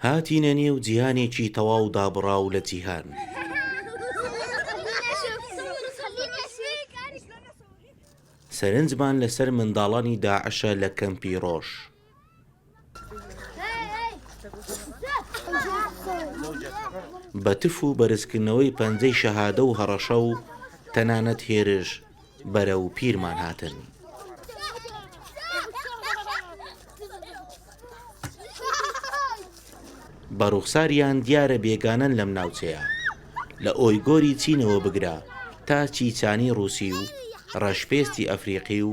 هاتینە نێو جیهانێکی تەواو دابڕاو لە جیهان. سەرنجمان لەسەر منداڵانی داعشە لە کەمپی ڕۆژ. بە تف و بەرزکردنەوەی پەنجەی شەهادە و هەڕەشە و تەنانەت هێرش بەرە و پیرمان هاتن. بە ڕوخساریان دیارە بێگانەن لەم ناوچەیە لە ئۆی گۆری چینەوە بگرە تا چیچانی ڕووسی و ڕەشپێستی ئەفریقی و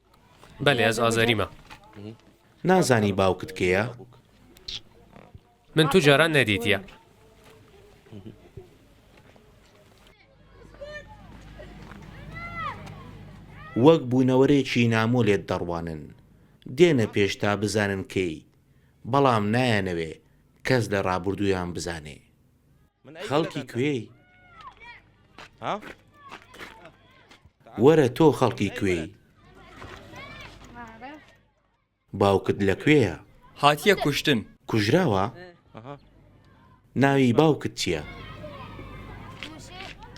بەلێ ئەز ئازەریمە. نازانی باوکت کێە؟ من تو جاران نەدیتە. وەک بوونەوەرێکی نامۆ لێت دەڕوانن. دێنە پێش تا بزانن کێی. بەڵام نایانەوێ کەس لە ڕابوردوویان بزانێ. خەڵکی کوێی؟ وەرە تۆ خەڵکی کوێی؟ باوکت لە کوێیە؟ هاتیە کوشتن کوژراوە؟ ناوی باوکت چییە؟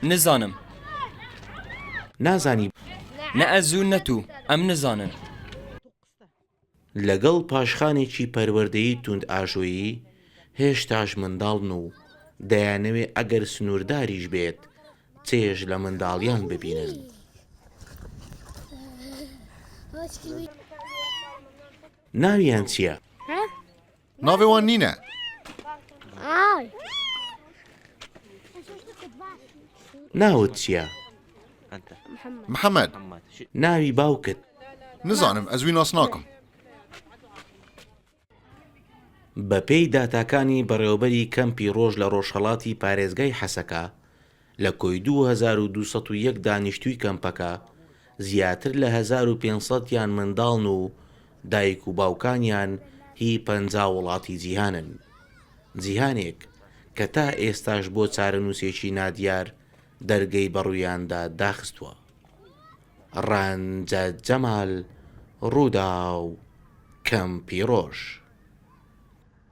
نزانم نازانی؟ نە ئەزوو نەتوو ئەم نزانن. لەگەڵ پاشخانێکی پەروەردەیی توندئاژۆیی، هێشتاش منداڵن و دەیانەوێت ئەگەر سنوورداریش بێت چێژ لە منداڵییان ببینن. ناویان چییە؟ ناوێ وان نینە ناوت چییە؟ محەممەد ناوی باوکت نزانم ئەزوی ناس ناکەم بەپێی داتاکانی بەڕێوەبەری کەمپی ڕۆژ لە ڕۆژهڵاتی پارێزگای حەسەکە لە کۆی دوو هەزار و دوو سەد و یەک دانیشتووی کەمپەکە زیاتر لە هەزار و پێنج سەد یان منداڵن و دایک و باوکانیان هی پەنجا وڵاتی جیهانن. جیهانێک کە تا ئێستاش بۆ چارەنووسێکی نادیار دەرگەی بەڕوویاندا داخستووە. ڕەنجە جەمال، ڕووداو، کەمپی ڕۆژ.